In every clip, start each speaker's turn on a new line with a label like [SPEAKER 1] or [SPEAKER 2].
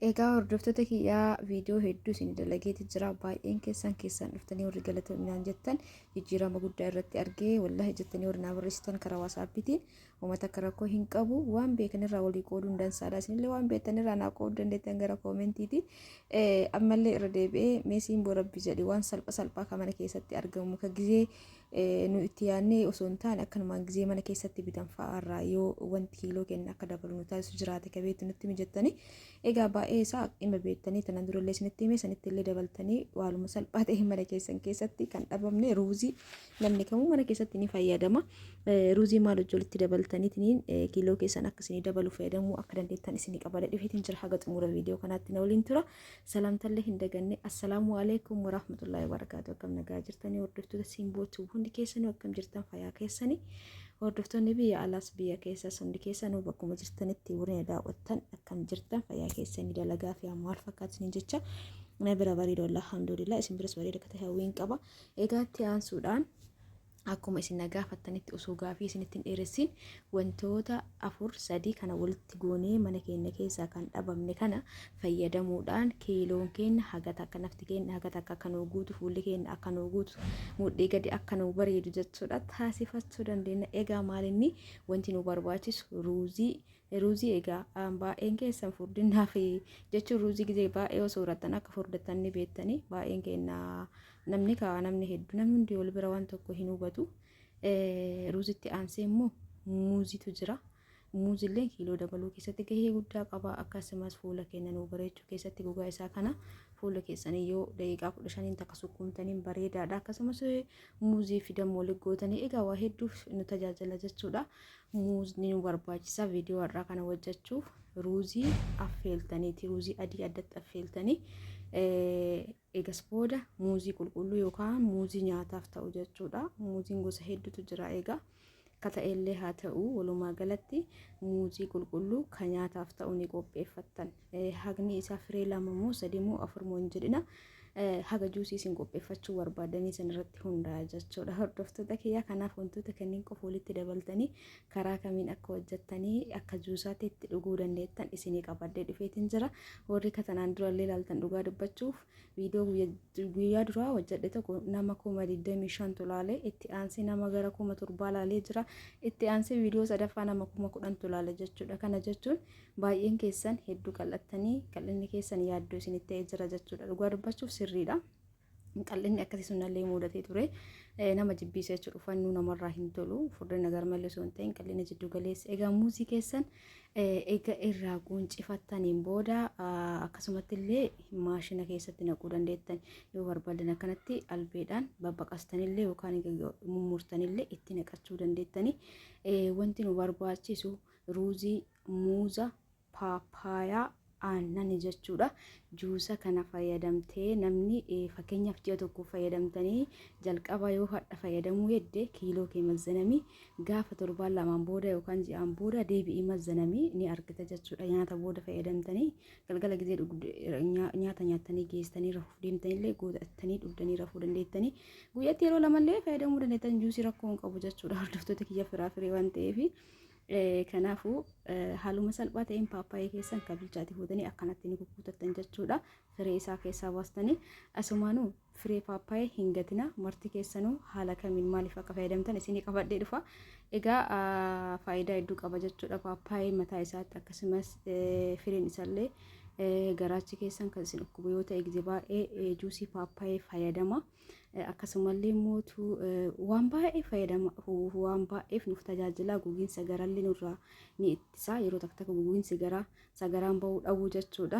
[SPEAKER 1] Egaa hordoftoota kiyyaa viidiyoo hedduu isin dalageeti jira. Baay'een keessan keessan dhuftanii warri galatominaan jettan jijjiirama guddaa irratti argee wallahi jettanii warri naa barreessitan karaa waasaappiitiin uummata akka rakkoo hin qabu waan beekan irraa walii qooduun dansaadha. Isinillee waan beektan irraa naa qooduu dandeettan gara koomentiiti. Ammallee irra deebi'ee meesiin boo rabbi jedhi waan salpha salphaa kan mana keessatti argamu ka gizee nu itti yaadnee osoo hin taane akkanumaan gizee mana keessatti bitan fa'aa irraa yoo wanti kiiloo keenya akka dabalu nu taasisu jiraate ka beektu nutti mijattanii egaa baay'ee isaa dhimma beektanii tanan durallee isinitti himee sanitti illee dabaltanii waaluma salphaa ta'e mana keessan keessatti kan dhabamne ruuzii namni kamuu mana keessatti ni fayyadama ruuzii maal hojjolitti dabaltaniitiin kiiloo keessan akka isinii dabalu fayyadamuu akka dandeettan isinii qabada dhufeetiin jira haga xumura viidiyoo kanaatti na waliin tura. Salaamtallee hin daganne assalaamu alaikum warahmatullahi wabarakaatu akkam nagaa jirtanii hordoftoota simbootu hundi keessanuu akkam jirtan fayyaa keessanii hordoftoonni biyya alaas biyya keessas hundi keessanuu bakkuma jirtanitti warreen daawwattan akkam jirtan fayyaa keessanii dalagaa fi ammoo haal fakkaatanii jecha na bira bareedu alhamdulillah isin biras bareeda akka ta'e hawwiin qaba egaatti aansuudhaan akkuma isin na gaafattanitti osoo gaafii isinitti hin dheeressin wantoota afur sadii kana walitti goonee mana keenya keessaa kan dhabamne kana fayyadamuudhaan kiiloon keenya haga takka nafti keenya haga takka akka nuu guutu fuulli keenya akka nuu guutu mudhii gadi akka nuu bareedu jechuudha taasifachuu dandeenya egaa maalinni wanti nu barbaachisu ruuzii ruuzii egaa baay'een keessan furdinaa fi jechuun ruuzii gizee baay'ee osoo horattan akka furdattan ni beektanii baay'een keenya namni kaa namni heddu namni hundi wal bira waan tokko hin hubatu ruuzitti aansee immoo muuzitu jira muuzillee kiiloo dabaluu keessatti gahee guddaa qaba akkasumas fuula keenya nuu bareechuu keessatti gogaa isaa kana fuula keessanii yoo daqiiqaa kudha shaniin takka sukkuumtaniin bareedaadha akkasumas muuzii fi dammoo liggootanii egaa waa hedduuf nu tajaajila jechuudha muuzni nu barbaachisa viidiyoo har'aa kana hojjechuuf ruuzii affeeltaniiti ruuzii adii addatti affeeltanii Eegas booda muuzii qulqulluu yookaan muuzii nyaataaf ta'u jechuudha. Muuziin gosa hedduutu jira egaa. Akka ta'ellee haa ta'u walumaa galatti muuzii qulqulluu kan nyaataaf ta'u ni qopheeffattan. Hagni isaa firee lama moo sadii moo afur moo hin jedhina. Haga juusii isin qopheeffachuu barbaadanii san irratti hundaa'a jechuudha. Hordoftoota kiyyaa kanaaf wantoota kanneen qofa walitti dabaltanii karaa kamiin akka hojjettanii akka juusaatti itti dhuguu dandeettan isinii qabadhee dhufeetiin jira warri katanaan durallee ilaaltan dhugaa dubbachuuf viidiyoo guyyaa duraa hojjedhe tokko nama kuma digdamii shantu laalee itti aansee nama gara kuma torbaa laalee jira itti aansee viidiyoo sadaffaa nama kuma kudhantu laale jechuudha kana jechuun baay'een keessan hedduu qal'attanii qal'inni keessan yaaddoo isinitti ta'ee jira jechuudha dhugaa dubbachuuf sirriidha. qal'inni akkasii sunnallee muudatee ture nama jibbiisa jechuudha uffannu namarraa hin tolu furdina garmalee osoo hin ta'in qal'ina jiddu galeessa egaa muuzii keessan egaa irraa quuncifattaniin booda akkasumatti illee maashina keessatti naquu dandeettan yoo barbaadan akkanatti albeedhaan babbaqastanillee yookaan mummurtanillee itti naqachuu dandeettani wanti nu barbaachisu ruuzii muuza paappaayaa, aannani jechuudha. Juusa kana fayyadamtee namni fakkeenyaaf ji'a tokkoof fayyadamtanii jalqaba yoo hadha fayyadamuu hedde kiiloo kee mazzanami gaafa torbaan lamaan booda yookaan ji'aan booda deebi'ii mazzanami ni argita jechuudha. Nyaata booda fayyadamtanii galgala gizee nyaata nyaattanii geessanii rafuuf deemtanillee gootattanii dhugdanii rafuu dandeettanii guyyatti yeroo lamallee fayyadamuu dandeettan juusii rakkoo hin qabu jechuudha. Hordoftoota kiyya firaa firii waan ta'eefi. Kanaafuu haaluma salphaa ta'een paappaayee keessan kan bilchaate fuutanii akkanatti ni gugguutattan jechuudha. Firee isaa keessaa baastanii asumaanuu firee paappaayee hin gatina marti keessanuu haala kamiin maaliif akka fayyadamtan isinii qabadhee dhufa. Egaa faayidaa hedduu qaba jechuudha paappaayee mataa isaatti akkasumas firiin isaallee garaachi keessan kan isin dhukkubu yoo ta'e gizee baay'ee juusii paappaayee fayyadama. akkasumallee mootu waan baay'ee fayyadama waan baay'eef nuuf tajaajila gogiinsa garallee nurraa ni ittisa yeroo takka takka gogiinsi garaa sagaraan ba'uu dhabuu jechuudha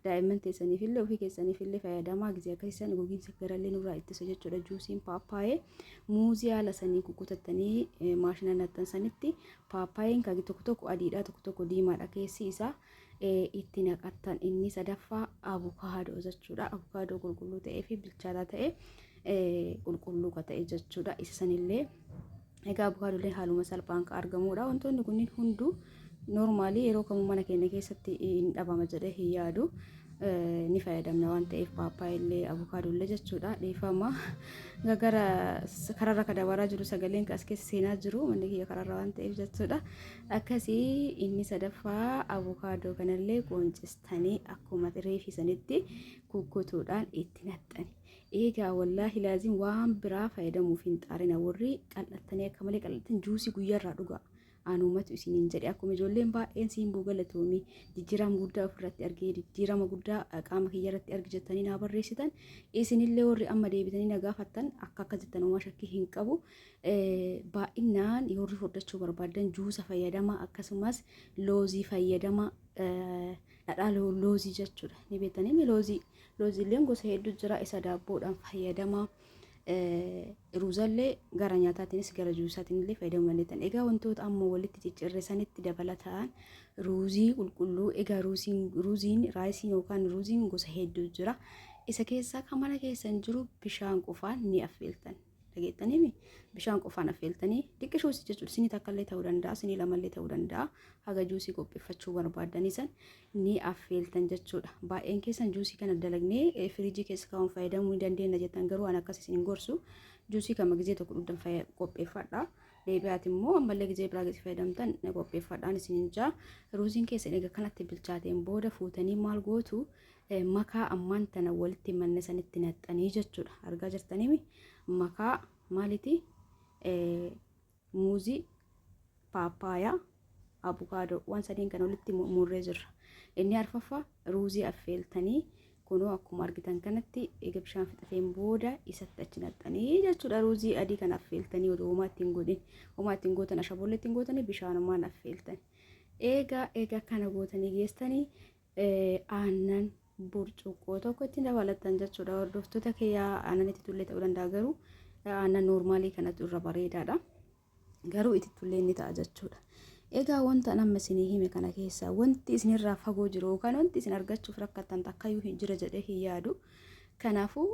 [SPEAKER 1] daa'imman teessaniif illee ofii keessaniif illee fayyadamaa gisee akkasisan gogiinsa garallee nurraa ittisa jechuudha juusiin paappaayee muuzii haala sanii kukkutattanii maashina naxxansanitti paappaayeen kagi tokko tokko adiidha tokko tokko diimaadha keessi isaa itti naqattan inni sadaffaa abukaadoo jechuudha abukaadoo qulqulluu ta'ee fi bilchaataa ta'e qulqulluu ka ta'e jechuudha isa sanillee egaa abukaadoolee haaluma salphaan ka argamuudha wantoonni kunniin hunduu noormaalii yeroo kamuu mana keenya keessatti hin dhabama jedhee hin yaadu
[SPEAKER 2] ni fayyadamna waan ta'eef paappaayillee abukaadollee jechuudha dhiifama gara kararra ka dabaraa jiru sagaleen as keessa seenaa jiru manni kiyya kararra waan ta'eef jechuudha Akkasi inni sadaffaa abukaadoo kanallee qooncistanii akkuma reefi sanitti kukkutuudhaan itti naxxani. Eegaa wallaahi laaziin waan biraa fayyadamuuf hin xaarina warri qal'attanii akka malee qal'attan juusii guyyaarraa dhugaa. Aanumatu isiniin jedhe akkuma ijoolleen baay'een siin buu galatoomii jijjiirama guddaa ofirratti argee jijjiirama guddaa qaama kiyyarratti argi jettanii naa barreessitan isinillee warri amma deebitanii na gaafattan akka akka jettan homaa shakkii hin qabu. baay'inaan yoorri furdachuu barbaadan juusa fayyadama akkasumas loozii fayyadama dhadhaa loozii jechuudha ni beektanii loozii looziileen gosa hedduu jira isa daabboodhaan fayyadama ruuzallee gara nyaataatiinis gara juusaatiin illee fayyadamuu dandeettan egaa wantoota amma walitti ciccirrisanitti dabalataan ruuzii qulqulluu egaa ruuziin ruuziin raayisiin yookaan ruuziin gosa hedduu jira isa keessaa kan mana keessan jiru bishaan qofaan ni affeeltan dhageettaniimi bishaan qofaan affeeltanii xiqqishuus jechuudha sinii takkallee ta'uu danda'a sinii lamallee ta'uu danda'a haga juusii qopheeffachuu barbaadanii san ni affeeltan jechuudha baay'een keessan juusii kana dalagnee eh, firiijii keessa kaa'uun fayyadamuu ni dandeenya jettan garuu an akkas isin hin gorsu juusii kama gizee tokko dhugdan fayya- qopheeffadha deebi'aati immoo ammallee gizee biraa gizee fayyadamtan ni qopheeffadhaan isin hin jaa ruuziin keessan egaa kanatti bilchaateen booda fuutanii maal gootu makaa ammaan tana walitti manne sanitti naxxanii jechuudha argaa jirtaniimi makaa maaliti muuzii paappaayaa abukaadoo waan sadiin kan walitti murree jirra inni arfaffaa ruuzii affeeltanii kunoo akkuma argitan kanatti eega bishaan fixateen booda isatti achi naxxanii jechuudha ruuzii adii kan affeeltanii oduu homaa ittiin godhin homaa ittiin gootan ashaboolla ittiin gootanii bishaanumaan affeeltanii eega eega kana gootanii geessanii aannan burcuqqoo tokko ittiin dabalattan jechuudha. Hordoftoota kiyyaa aannan itti tullee ta'uu danda'a garuu aannan noormaalii kanatu irra bareedaadha. Garuu itti tullee ni ta'a jechuudha. Egaa wanta amma isinii hime kana keessaa wanti isinirraa fagoo jiru yookaan wanti isin argachuuf rakkattan takkayyuu hin jira jedhee hin yaadu. Kanaafuu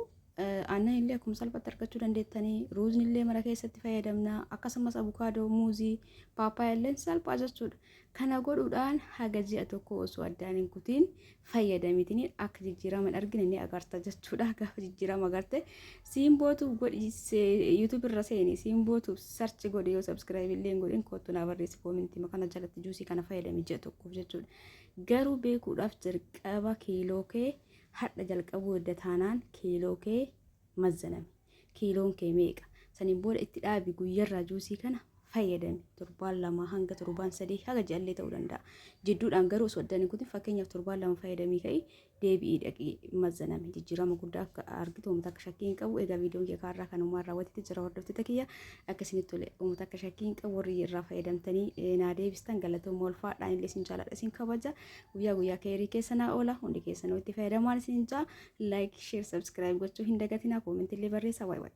[SPEAKER 2] aannan illee akkuma salphatti argachuu dandeettanii ruuzni illee mana keessatti fayyadamna akkasumas abukaadoo muuzii paappaayyaa illee salphaa jechuudha. Kana godhuudhaan haga ji'a tokkoo osoo addaan hin kutiin fayyadamitiniin akka jijjiirama hin argine ni agarta jechuudha. Gaafa jijjiirama agarte siimbootuuf godhi yuutuubi irra seeni siimbootuuf sarchi godhi yoo sabskiraayib illee hin godhin kottu naa barreessi koomintii makana jalatti juusii kana fayyadami ji'a tokkoof jechuudha. Garuu beekuudhaaf jalqaba kiiloo kee hadha jalqabuu edda taanaan kiiloo kee mazzanami. kiiloon kee meeqa saniin booda itti dhaabi guyyarraa juusii kana fayyadami torbaan lama hanga torbaan sadii haga ji'allee ta'uu danda'a jidduudhaan garuu osoo addaan hin kutin fakkeenyaaf torbaan lama fayyadamii ka'i deebi'ii dhaqii mazzanami jijjiirama guddaa akka argitu uummata akka shakkii hin qabu egaa viidiyoon kee kaarraa kan uumaa raawwatetti jira hordoftoota kiyya akka isinitti tole uummata akka shakkii hin qabu warri irraa fayyadamtanii eh, naa deebistan galatooma ulfaadhaan illee isin jaaladha isin kabaja guyyaa guyyaa keerii keessa naa oola hundi keessanuu itti fayyadamaan isin jaa like share subscribe gochuu hin dagatinaa koomentillee barreessaa waay waay